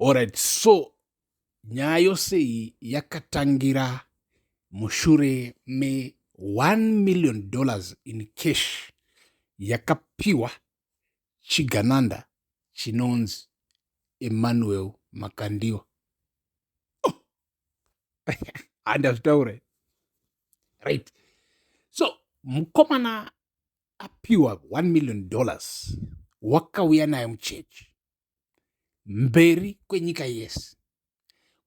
Alright, so nyaya yose iyi yakatangira mushure me 1 million dollars in cash yakapiwa chigananda chinonzi Emmanuel Makandiwa. Oh. Handazvitaure. Right. So mukomana apiwa 1 million dollars wakauya naye muchechi mberi kwenyika yese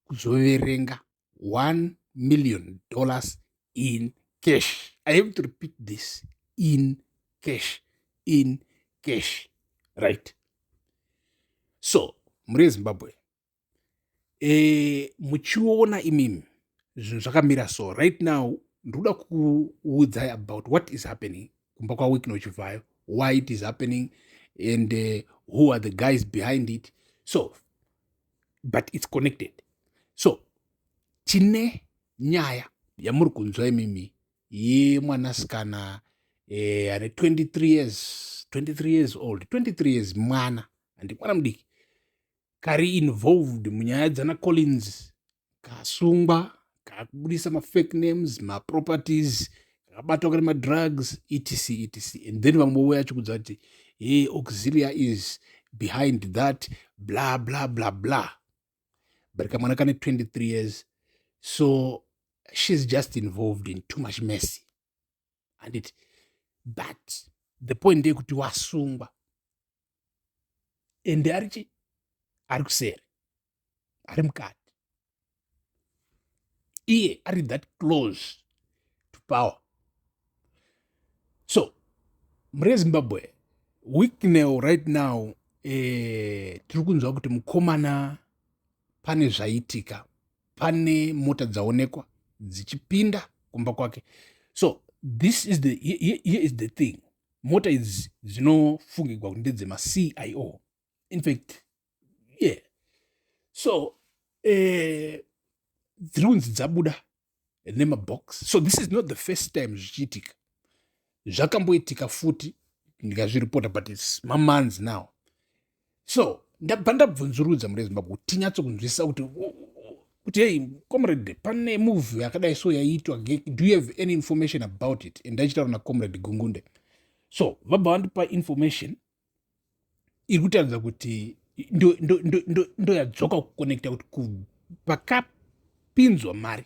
kuzoverenga 1 million dollars in cash i have to repeat this in cash in cash right so mhuri yezimbabwe e, muchiona imimi zvinhu zvakamira so right now ndikuda kuudzai about what is happening kumba kwawikna uchibvayo why it is happening and uh, who are the guys behind it so but its connected so tine nyaya yamuri kunzwa imimi yemwanasikana eh, ane 23 years 23 years old 23 years mwana handi mwana mudiki kari involved munyaya dzana collins kasungwa kakubudisa mafake names maproperties kakabatwa kane madrugs etc etc and then vamwe vouya achikudza kuti he auxilia is behind that bla bla bla bla but kamwana kane 23 years so she's just involved in too much mercy handiti but the point ndeyekuti wasungwa ende ari chi ari kuseri ari mukati iye ari that close to power so mure zimbabwe weeknow right now eh, tiri kunzwa kuti mukomana pane zvaitika pane mota dzaonekwa dzichipinda kumba kwake so this is the, here, here is the thing mota idzi dzinofungigwa kuti ndedzemacio infact yeah so eh, dziri kunzi dzabuda nemabox so this is not the first time zvichiitika zvakamboitika futi ndikazviripota but its mamanzi now so ndabva ndabvunzurudza mune zimbabwe kuti tinyatso kunzwisisa kuti kuti hei comrade pane move yakadai so yaiitwa do you have any information about it and ndaichitaura nacomrade gungunde so vabva vandipa information iri kutaridza kuti ndoyadzoka kuconnecta kuti pakapinzwa mari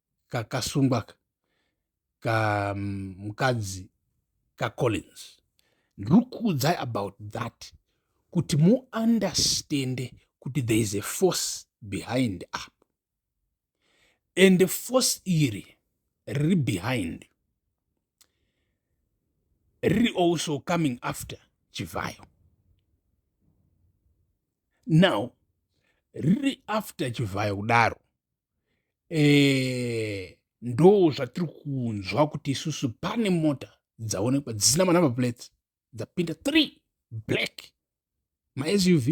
kakasungwa ka mm, mukadzi kacollins ndiri kuudzai about that kuti muunderstande kuti there is a force behind up and force iri riri behind riri also coming after chivhayo now riri after chivhayo kudaro eh, ndo zvatiri kunzwa kuti isusu pane mota dzaonekwa dzisina manumber plates dzapinda three black masuv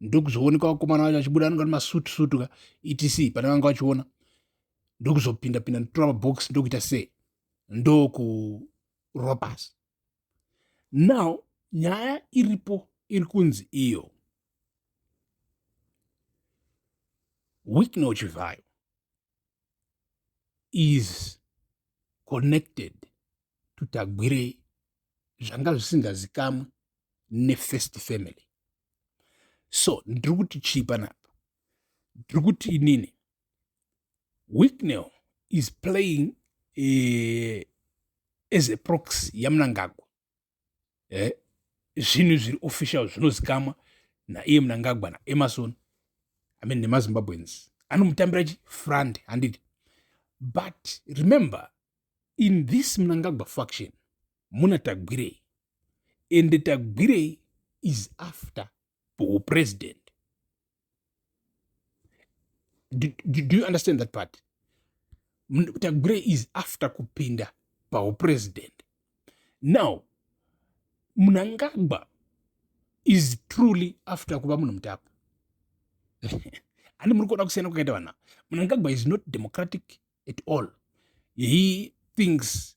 ndokuzooneka vakomana vacho vachibuda anonga nemasutu sutu ka etc pane vanga vachiona ndokuzopinda pinda ndotora mabox ndokuita sei ndokurova pasi now nyaya iripo iri kunzi iyo Wicknell Chivhayo is connected to Tagwirei zvanga zvisingazikamwe nefirst family. So ndiri kuti chii panapa? Ndiri kuti inini Wicknell is playing uh, as a proxy yaMnangagwa eh, zvinhu zviri official zvinozikamwa naiye munangagwa naemarson i mean nemazimbabweans anomutambira chi front handiti but remember in this munangagwa faction muna tagwirei ende tagwirei is after hupresident do, do, do you understand that part tagure is after kupinda pahupresident now munangagwa is truly after kuva munhu mutapa ani muri kuona kusiyana kwakaita vanhu ava munangagwa is not democratic at all he thinks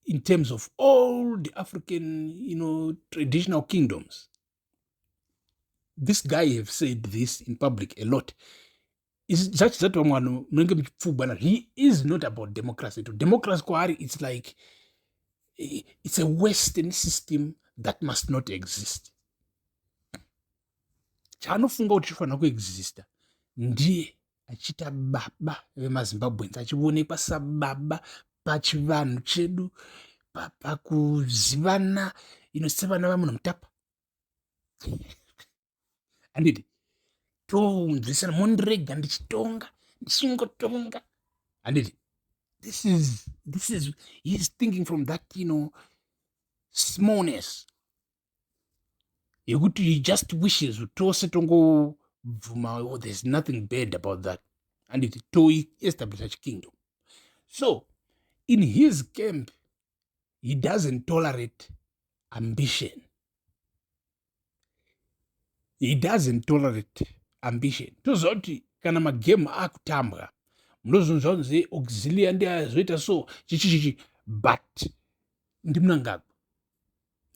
in terms of all the african you know, traditional kingdoms this guy have said this in public a lot zvachi zati vamwe vanhu munenge muchipfugwana he is not about democracy to democracy kwaari its like it's a western system that must not exist chaanofunga kuti chifanira kuexista ndiye achiita baba vemazimbabweans achionekwa sababa pachivanhu chedu pakuzivana ino sevana vamunhu mutapa andidi tounzwisana mondirega ndichitonga ndichingotonga andidi this is this is he's thinking from that you know smallness yekuti you just wishes tose tongobvuma oh, there's nothing bad about that and it toestablisha chikingdom so in his camp he doesn't tolerate ambition he doesn't tolerate ambition toziva kuti kana magame akutambwa munozonzwa kunzi auxilia ndiazoita so chichichichi but ndimunangagwa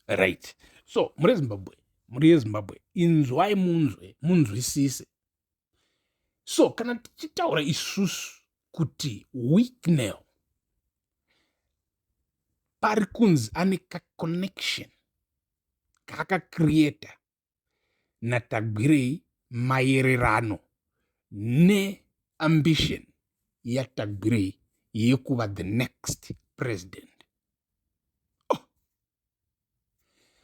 right so muri ezimbabwe muri yezimbabwe inzwai munzwe munzwisise so kana tichitaura isusu kuti wicknel pari kunzi ane kaconnection kaakacreata naTagwirei mayererano neambition yaTagwirei yekuva the next president. Oh.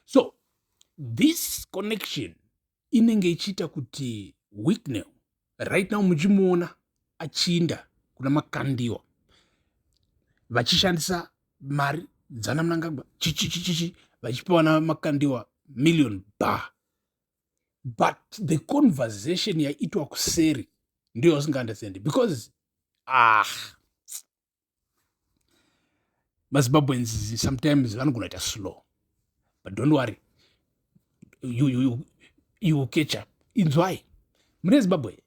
So this connection inenge ichiita kuti Wicknell right now muchimuona achinda kuna makandiwa vachishandisa mari dzana mnangagwa chichichichichi vachipiwa na makandiwa million bar but the conversation yaitwa kuseri ndiyo usingaunderstandi because ah mazimbabweans sometimes vanogona ita slow but don't worry you, you, you, you will catch up inzwai mune zimbabwe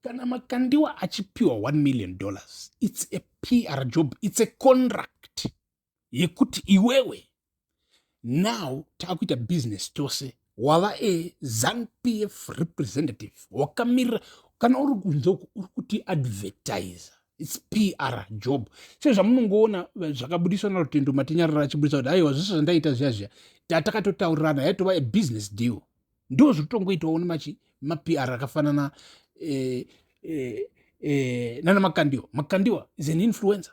kana makandiwa achipiwa 1 million dollars its a pr job its a contract yekuti iwewe now takuita business tose wava a zanpf representative wakamirira kana uri kunze uku uri kuti advertise its pr job se zvamunongoona zvakabudiswa narutendo matinyarara achibudisa kuti aiwa zvese zvandaita zviya zviya tatakatotaurirana yaitova a business deal ndo zviri kutongoitawo nemachi mapr akafanana eh, eh, eh, nana makandiwa makandiwa is an influencer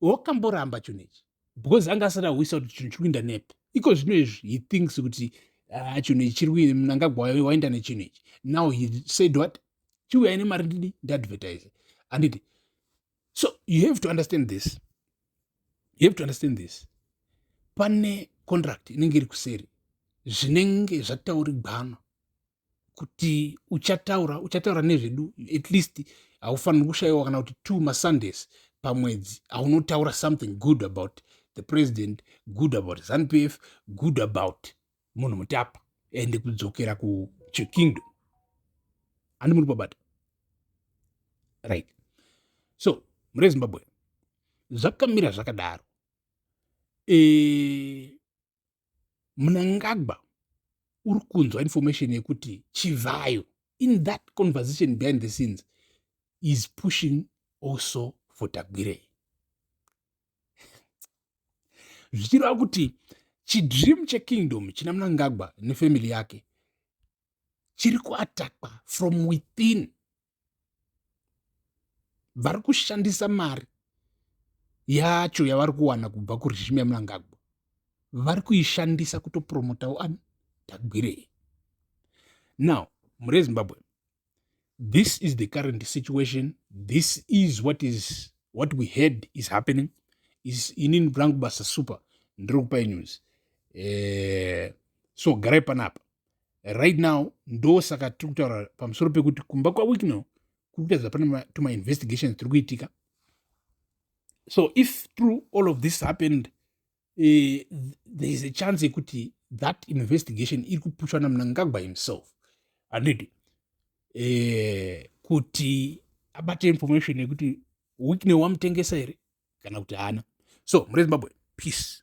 wakamboramba chinhu ichi because anga asati ahwisa kuti chinhu chiri kuinda nepi iko zvino izvi he thinks kuti ah, chinhu ichi chiri kuinda mnangagwa wainda nechinhu ichi now he said what chiuyai nemari ndidi ndiadvertise handiti so you have to understand this you have to understand this pane contract inenge iri kuseri zvinenge zvataurigwana kuti uchataura uchataura nezvedu at least haufaniri kushayiwa kana kuti two masundays pamwedzi aunotaura something good about the president good about zanup f good about munhu mutapa ende kudzokera kuchikingdom handi muri pabata right so mure zimbabwe zvakamira zvakadaro e, mnangagwa uri kunzwa information yekuti chivhayo in that conversation behind the scenes is pushing also for tagwirei zvichireva kuti chidream chekingdom china mnangagwa nefamily yake chiri kuatakwa from within vari kushandisa mari yacho yavari kuwana kubva kuregime yamnangagwa vari kuishandisa kutopromotawo ani tagwirei now muri ezimbabwe this is the current situation this is what is what we heard is happening is inini rangu basa super ndiri kupai news eh, so garai panapa right now ndosaka tiri kutaura pamusoro pekuti kumba kwawicknel kuri kutadza pane tumainvestigations tiri kuitika so if through all of this happened uh, there is a chance yekuti that investigation iri kupushwa namnangagwa himself andidi uh, eh, kuti abate information yekuti wicknel wamutengesa here kana kuti haana so mure zimbabwe peace